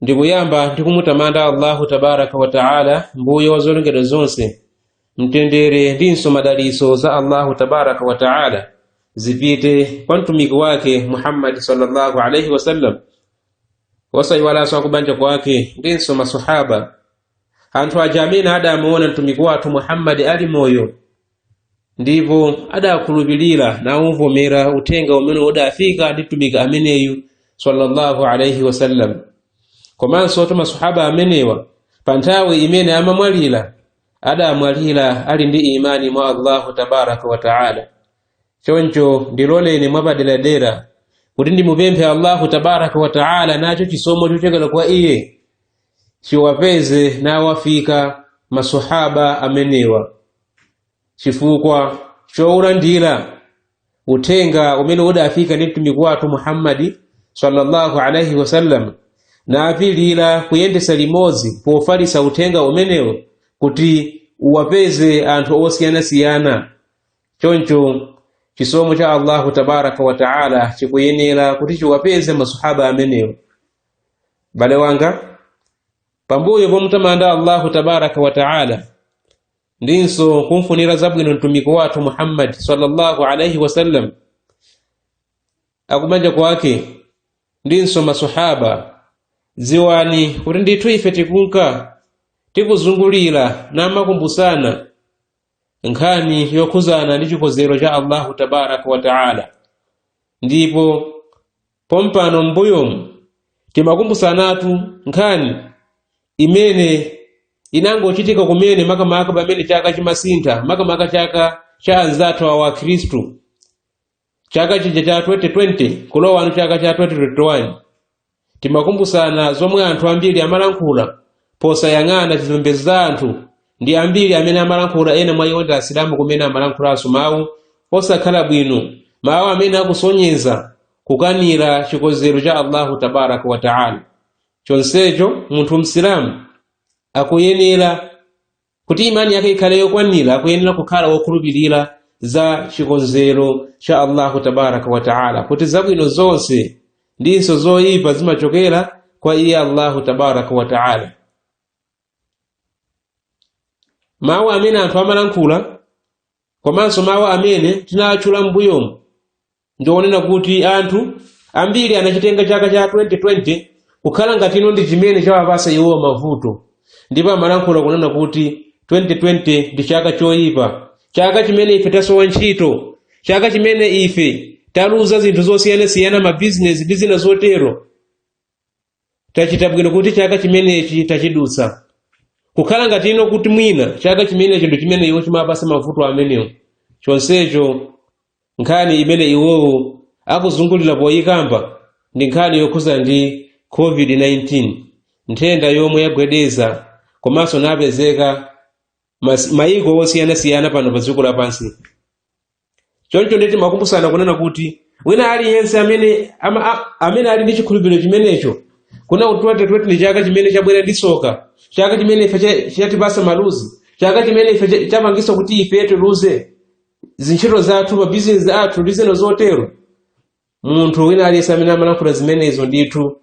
ndikuyamba ndi kumutamanda allahu tabaraka wa taala mbuye wa zolengedwa zonse mtendere ndinso madalitso za allahu tabaraka wa taala zipite kwa mtumiki wake muhammadi sallallahu alaihi wasallam osayiwalanso akubanja kwake ndinso masahaba anthu aja amene adamuona mtumiki wathu muhammadi ali moyo ndipo adakhulupirira naumvomera uthenga umene udafika ndi mtumiki ameneyu sallallahu alaihi wasallam komansotu masahaba amenewa pa nthawi imene amamwalira adamwalira ali ndi imani mwa allahu tabaraka wa taala choncho ndiloleni mwapaderadera kuti ndimupemphe allahu tabaraka wa taala nacho chisomo chochokera kwa iye chiwapeze nawafika masahaba amenewa chifukwa choulandira uthenga umene udafika ndi mtumiki wathu muhammadi sallallahu alaihi wasallam naapilira kuyendesa limodzi pofalisa uthenga umenewo kuti uwapeze anthu osiyanasiyana choncho chisomo cha allahu tabaraka wa taala chikuyenera kuti chiwapeze masahaba amenewo bale wanga pambuyo pomutamanda allahu tabaraka wa taala ndinso kumfunira zabwino mtumiki wathu muhammadi sallallahu alaihi wasallam akubanja kwake ndinso masahaba dziwani kuti ndithu ife tikunka tikuzungulira namakumbusana nkhani yokhuzana ndi chikonzero cha allahu tabaraka wa taala ndipo Pompano m'mbuyomu timakumbusanatu nkhani imene inangochitika kumene makamaka pamene chaka chimasintha makamaka chaka cha anzathuwa akhristu chaka chija cha 2020 kulowano chaka cha 2021 timakumbusana zomwe anthu ambiri amalankhula posayang'ana zipembedzo za anthu ndi ambiri amene amalankhula ena mwa iwo ndi asilamu kumene amalankhulanso mawu osakhala bwino mawu amene akusonyeza kukanira chikonzero cha allahu tabaraka wataala chonsecho munthu msilamu akuyenera kuti imani yake ikhale yokwanira akuyenera kukhala wokhulupirira za chikonzero cha allahu tabaraka wa taala kuti zabwino zonse ndinso zoyipa zimachokera kwa iye allahu tabaraka wa taala mawu amene anthu amalankhula komanso mawu amene tinatchula m'mbuyomu ndi onena kuti anthu ambiri anachitenga chaka cha 2020 kukhala ngati no ndi chimene chawapasa iwowa mavuto ndipo amalankhula kunena kuti 2020 ndi chaka choyipa chaka chimene ife tasowa ntchito chaka chimene ife taluza zinthu zosiyanasiyana mabizinesi ndi zina zotero tachita bwino kuti chaka chimenechi tachidutsa kukhala ngati ino kuti mwina chaka chimenechi ndi chimene iwo chimapasa mavuto amenewo chonsecho nkhani imene iwowo akuzungulira poyikamba ndi nkhani yokhuza ndi covid-19 nthenda yomwe yagwedeza komanso napezeka mas- mayiko osiyanasiyana pano pa dziko lapansi choncho ndiye timakumbusana kunena kuti wina aliyense amene ama, a, amene ali ndi chikhulupiriro chimenecho kunena kuti twente twente ndi chaka chimene chabwera ndi tsoka chaka chimene ife cha- chatipasa maluzi chaka chimene ife cha- chapangisa kuti ife tiluze zintchito zathu mabizinesi athu ndi zina zotero munthu wina aliyense amene amalankhula zimenezo ndithu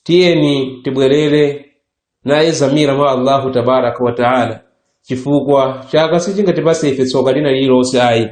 tiyeni tibwerere nayezamira mwa allahu tabaraka wataala chifukwa chaka sichingatipase ife tsoka lina lililonse ayi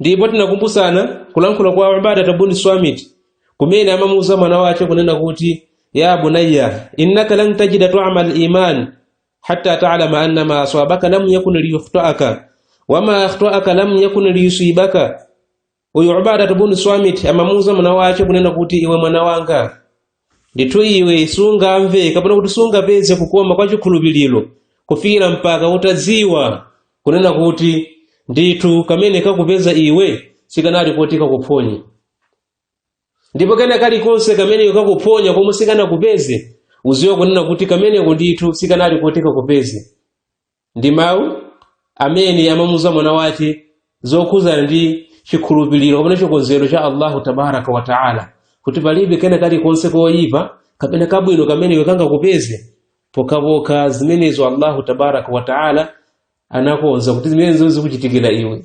ndipo tinakumbusana kulankhula kwa ubadatu bunu swamit kumene amamuuza mwana wace kunena kuti ya bunayya innaka lan tajida tuama liman hatta talama anna ma aswabaka lam yakun liyukhtaaka wama akhtaaka lam yakun liyusibaka uyu ubadatu bunu swamit amamuuza mwana wace kunena kuti iwe mwana wanga ndithu iwe sungamve kapena kuti sungapeze kukoma kwa chikhulupiriro kufikira mpaka utadziwa kunena kuti ndithu kamene kakupeza iwe sikanali koti kakuphonye ndipo kena kalikonse kamene kakuphonya komwe sikanakupeze uziwe kunena kuti kameneko ndithu sikanali koti kakupeze ndi mawu amene amamuuza mwana wake zokhuzana ndi chikhulupiriro kapena chikonzero cha allahu tabaraka wa taala kuti palibe kena kalikonse koyipa kapena kabwino kamene iwe kangakupeze pokhapokha zimenezo allahu tabaraka wa taala anakonza kuti zimenezo zikuchitikira iwe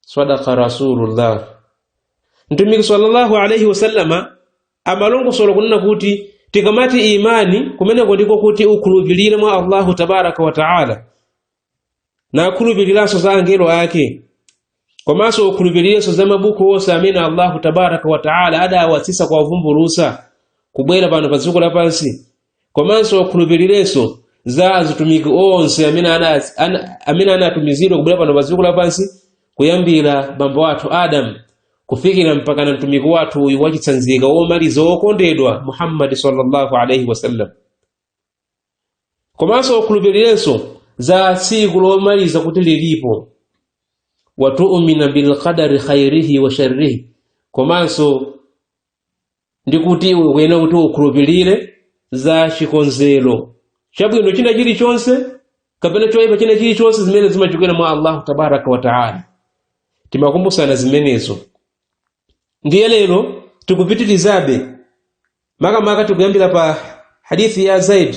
sadaka rasulullah mtumiki sallallahu alaihi wasallama amalongosola kunena kuti tikamati imani kumeneko ndiko kuti ukhulupirire mwa allahu tabaraka wa taala nakhulupiriranso za angelo ake komanso ukhulupirirenso za mabuku onse amene allahu tabaraka wa taala adawatsitsa kuwavumbulusa kubwera pano pa dziko lapansi komanso ukhulupirirenso za azitumiki onse amene ana- ana- amene anatumizidwa kubwera pano pa dziko lapansi kuyambira bambo wathu adamu kufikira mpakana mtumiki wathu uyu wachitsanzika womaliza wokondedwa muhammadi sallallahu alaihi wasallam komanso ukhulupirirenso za tsiku lomaliza kuti lilipo watuumina bilqadari khairihi wa sharrihi komanso ndi kuti iwe ukuyenera kuti ukhulupirire za chikonzero cha chabwino china chilichonse kapena choyipa china chilichonse zimene zimachokera mwa allahu tabaraka wataala timakumbusana zimenezo ndiye lero tikupitirizabe makamaka tikuyambira pa hadithi ya zaid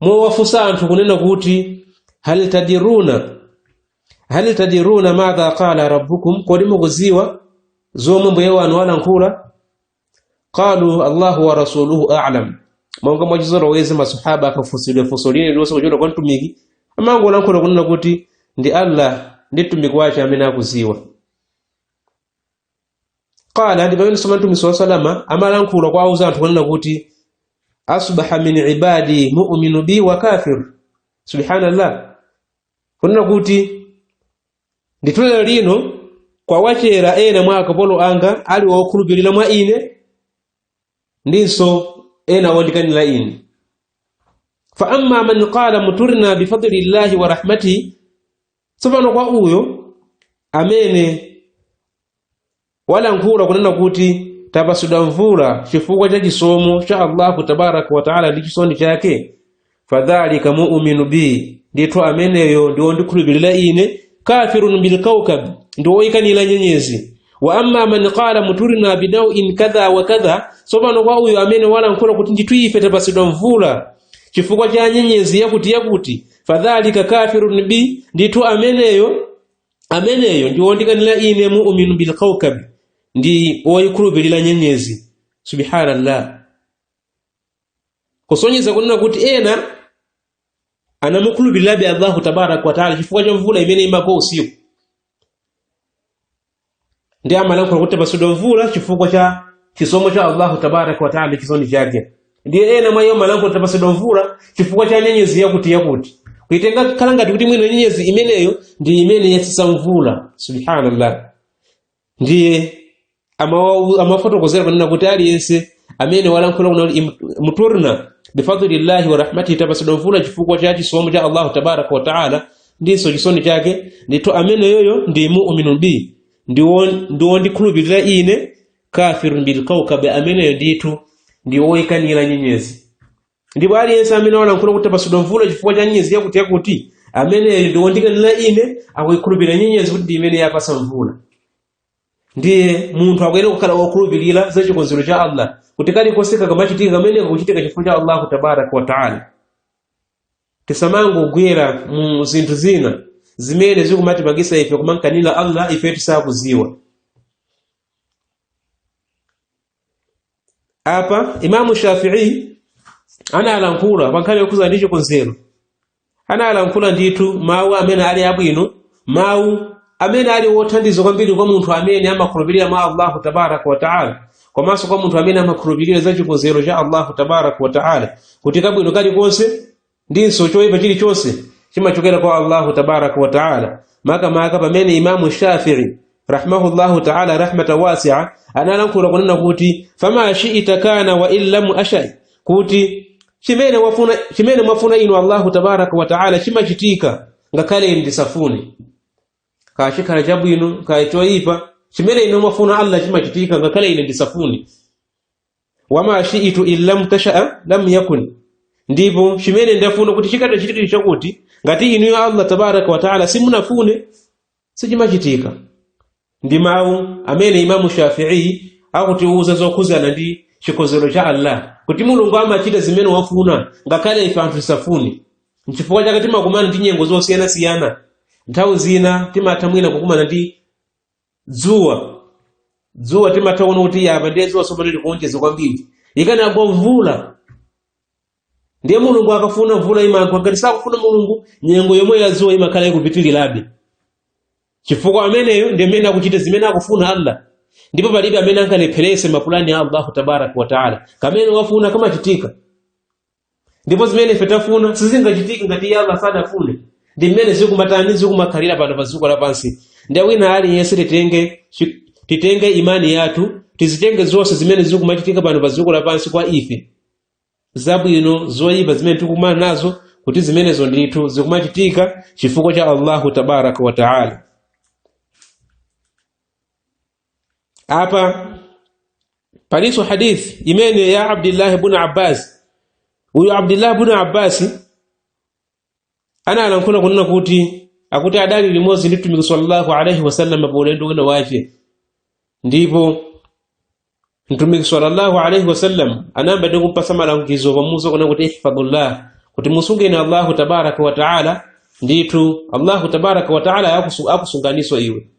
powafunsa anthu kunena kuti hal tadiruna hal tadiruna madha qala rabbukum kodi mukudziwa zomwe mbuye wanu walankhula qalu allahu wa rasuluhu alam monga mwachizolowezi masahaba akafunsidwa funso lina lilonse kuchokera kwa mtumiki amangolankhula kunena kuti ndi allah ndi mtumiki wake amene akudziwa qala ndi pamene soma mtumiki sallallahu alaihi wasallam amalankhula kuwauza anthu kunena kuti asbaha min ibadi mu'minu bi wa kafir subhanallah kunena kuti ndithu lero lino kwawachera ena mwa akapolo anga ali wokhulupirira mwa ine ndinso ena wondikanira ine fa amma man qala muturna bifadli llahi wa rahmatihi tsopano kwa uyo amene walankhula kunena kuti tapatsidwa mvula chifukwa cha chisomo cha allahu tabaraka wataala ndi chisoni chake fadhalika muuminu bi ndithu ameneyo ndi wondikhulupirira ine kafirun bilkaukab ndi woyikanira nyenyezi wa amma man qala muturina binawin kadha wa kadha tsopano kwa uyo amene walankhula kuti ndithu ife tapatsidwa mvula chifukwa cha nyenyezi yakuti yakuti fadhalika kafirun bi ndithu ameneyo ameneyo ndi wondikanira ine muuminu bil kawkabi ndi woyikhulupirira nyenyezi subhanallah kusonyeza kunena kuti ena anamukhulupirirabe allahu tabaraka wataala chifukwa cha mvula imene imagwa usiku ndiye amalankhula kuti tapatsidwa mvula chifukwa cha chisomo cha allahu tabaraka wataala ndi chisoni chake ndiye ena mwa iwo amalankhula tapatsidwa mvula chifukwa cha nyenyezi yakuti yakuti kuitenga kukhala ngati kuti mwina nyenyezi imeneyo ndi imene yatsitsa mvula subhanallah ndiye amawa- amafotokozera kunena kuti aliyense amene walankhula kunena kuti im- muturna bifadlillahi wa rahmatihi tapatsidwa mvula chifukwa cha chisomo cha allahu tabaraka wataala ndinso chisoni chake ndithu ameneyoyo ndi mu'minun bi ndi wo- ndi wondikhulupirira ine kafirun bil kawkabi ameneyo ndithu ndi woyikanira nyenyezi ndipo aliyense amene walankhula kuti tapasidwa mvula chifukwa cha nyenyezi yakuti yakuti ameneyo ndi wondikanira ine akuyikhulupirira nyenyezi kuti ndi imene yapasa mvula ndiye munthu akuyenera kukhala wokhulupirira za chikonzero cha allah kuti kalikonse kakamachitika kamene kakuchitika chifukwa cha allahu tabaraka wataala tisamangogwera mu zinthu zina zimene zikumatipangisa ife kumankanira allah ife tisakuziwa apa imamu shafii analankhula pankhani yokhuza ndi chikonzero analankhula ndithu mawu amene ali abwino mawu amene ali wothandiza kwambiri kwa munthu amene amakhulupirira mwa allahu tabaraka wataala komanso kwa munthu amene amakhulupirira za chikonzero cha allahu tabaraka wataala kuti kabwino kalikonse ndinso choyipa chilichonse chimachokera kwa allahu tabaraka wataala makamaka pamene imamu shafii rahimahullahu taala rahmatan wasia analankhula kunena kuti fama shiita kana wa in lam ashai kuti chimene wafuna chimene mwafuna inu allahu tabaraka wataala chimachitika ngakhale ndisafune kaya chikhala chabwino kaya choyipa chimene inu mwafuna allah chimachitika ngakhale ine ndisafune wama shiitu in lam tashaa lam yakun ndipo chimene ndafuna kuti chikatachitike chakuti ngati inuyo allah tabaraka wataala simunafune sichimachitika ndi mawu amene imamu shafi'i akutiwuza zokhuzana ndi chikonzero cha allah kuti mulungu amachita zimene wafuna ngakhale ife anthu tisafune nchifukwa chake timakumana ndi nyengo zosiyanasiyana nthawi zina timatha mwina kukumana ndi dzuwa dzuwa timatha kuona kuti yapa ndiye dzuwa tsopano likuonjeza kwambiri ikanagwa mvula ndiye mulungu akafuna mvula imagwa ngati sakufuna mulungu nyengo yomweyo yadzuwa imakhala ikupitirirabe chifukwa ameneyo ndi amene akuchita zimene akufuna allah ndipo palibe amene angalepherese mapulani a allahu tabaraka wataala kamene wafuna kamachitika ndipo zimene ife tafuna sizingachitike ngati iye allah sadafune ndi mmene zikumatani zikumakhalira pano pa dziko lapansi ndiye wina aliyense titenge chi- titenge imani yathu tizitenge zonse zimene zikumachitika pano pa dziko lapansi kwa ife zabwino zoyipa zimene tikukumana nazo kuti zimenezo ndithu zikumachitika chifukwa cha allahu tabaraka wa taala apa palinso hadithi imene ya abdillahi bun abbas uyu abdillahi bun abbasi analankhula kunena kuti akuti adali limodzi ndi mtumiki sallallahu alaihi wasallam pa ulendo wina wace ndipo mtumiki sallallahu alaihi wasallam anayamba ndi kumpasa malangizo pomuuza kunena kuti ihfadullah kuti musungeni allahu tabaraka wataala ndithu allahu tabaraka wataala akusu- akusunganiso iwe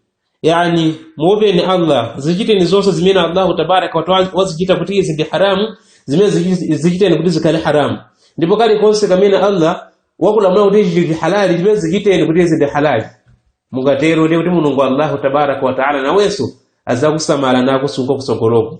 yani muopeni allah zichiteni zonse zimene allahu tabaraka wataala wazichita kuti izi ndi haramu zimene zichi- zichiteni kuti zikhale haramu ndipo kalikonse kamene allah wakulamula kuti ichi ndi halali ndipo zichiteni kuti izi ndi halali mungatero ndiye kuti mulungu allahu tabaraka wataala nawenso azakusamala nakusunga kusogoloko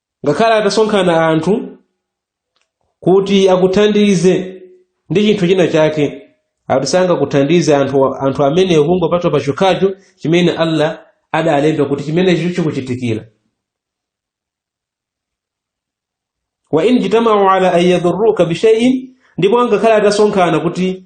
ngakhale atasonkhana anthu kuti akuthandize ndi chinthu china chake ati sangakuthandize anthu amenewo kungopatula pachokhacho chimene allah adalemba kuti chimenecho chikuchitikira wa in jitamau ala an yadhurruka bishaiin ndipo ngakhale atasonkhana kuti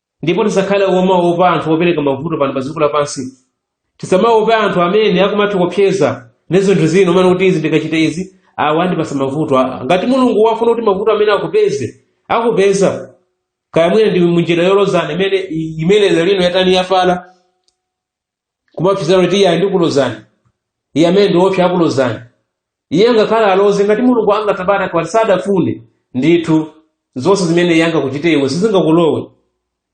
ndipo tisakhale omaopa anthu opereka mavuto pano pa dziko lapansi tisamaope anthu amene akumatikopseza ndi zinthu zina kumanena kuti izi ndikachita izi awa andipasa mavuto aa ngati mulungu wafuna kuti mavuto amene akupeze akupeza kaya mwina ndi munjira yolozana imene imene lero lino yatani yafala kumaopsezana kuti iye ndikulozani iye amene ndi woopsa akulozani iye ngakhale aloze ngati mulungu allah tabaraka wataala sadafune ndithu zonse zimene iye angakuchite iwe sizingakulowe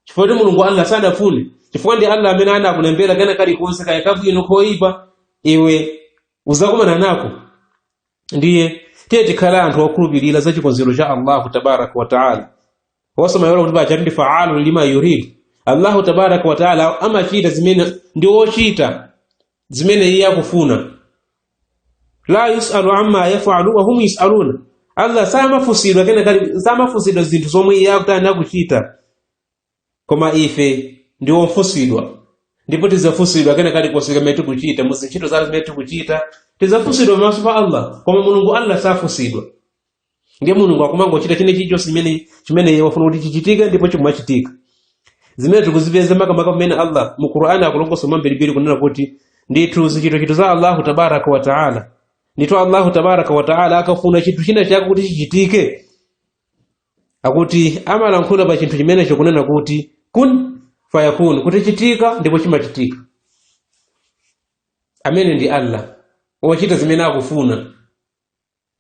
chifukwa kuti mulungu allah sadafune chifukwa ndi allah amene anakulembera kena kalikonse kaya kabwino koyipa iwe uzakumana nako ndiye tiye tikhale anthu okhulupirira za chikonzero cha allahu tabaraka wataala osamayiwala kuti pajatu ndi faalu lima yurid allahu tabaraka wataala amachita zimene ndi ochita zimene iye akufuna la yusalu amma yafalu wahum yusaluna allah samafunsidwa kena kali samafunsidwa zinthu zomwe iye akutani akuchita koma ife ndi ofunsidwa ndipo tidzafunsidwa kena kalikonse kamene tikuchita mu zintchito zathu zimene tikuchita tidzafunsidwa pamaso pa allah koma mulungu allah safunsidwa ndiye mulungu akumangochita china chilichonse chimene chimene iye wafuna kuti chichitike ndipo chimachitika zimene tikuzipeza makamaka pamene allah mu qur'ani akulongosola mwambirimbiri kunena kuti ndithu zichitochito za allahu tabaraka wa taala ndithu allahu tabaraka wa taala akafuna chinthu china chake kuti chichitike akuti amalankhula pa chinthu chimenecho kunena kuti kun fayakun kuti chitika ndipo chimachitika amene ndi allah wochita zimene akufuna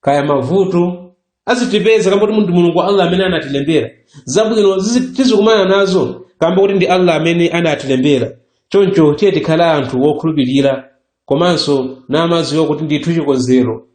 kaya mavuto azitipeza kamba kuti ndi mulungu allah amene anatilembera zabwino zizi- tizikumana nazo kamba kuti ndi allah amene anatilembera choncho tiye tikhale anthu wokhulupirira komanso namadziwa kuti ndithu chikonzero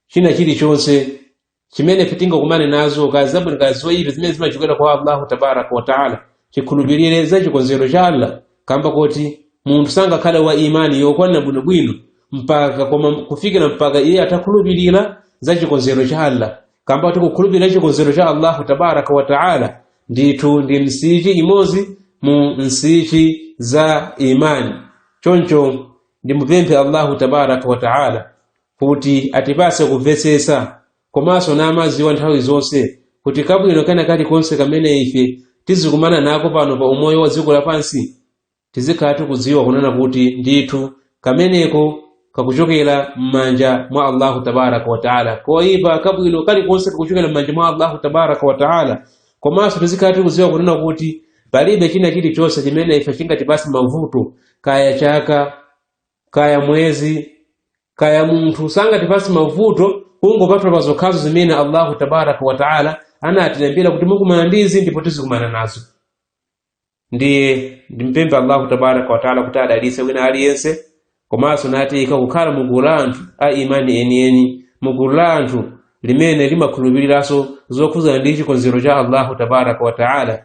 china chilichonse chimene ife tingakumane nazo kaya zabwino kaya zoyipa zimene zimachokera kwa allahu tabaraka wataala tikhulupirire za chikonzero cha allah kamba koti munthu sangakhale wa imani yokwanira bwinobwino mpaka koma kufikira mpaka iye atakhulupirira za chikonzero cha allah kamba kuti kukhulupirira chikonzero cha allahu tabaraka wataala ndithu ndi msichi imodzi mu nsichi za imani choncho ndimupemphe allahu tabaraka wataala kuti atipatse kumvetsetsa komanso namadziwa nthawi zonse kuti kabwino kena kalikonse kamene ife tizikumana nako pano pa umoyo wa dziko lapansi tizikhala tikudziwa kunena kuti ndithu kameneko kakuchokera m'manja mwa allahu tabaraka wataala koyipa kabwino kalikonse kakuchokera m'manja mwa allahu tabaraka wataala komanso tizikhala tikudziwa kunena kuti palibe china chilichonse chimene ife chingatipatse mavuto kaya chaka kaya mwezi kaya munthu sangatipatse mavuto kungopatula pa zokhazo zimene allahu tabaraka wataala anatilembera kuti mukumana ndizi ndipo tizikumana nazo ndiye ndimpemphe allahu tabaraka wataala kuti adalitse wina aliyense komanso natiyika kukhala mu gulu la anthu a imani enieni mu gulu la anthu limene limakhulupiriranso zokhudzana ndi chikonzero cha allahu tabaraka wataala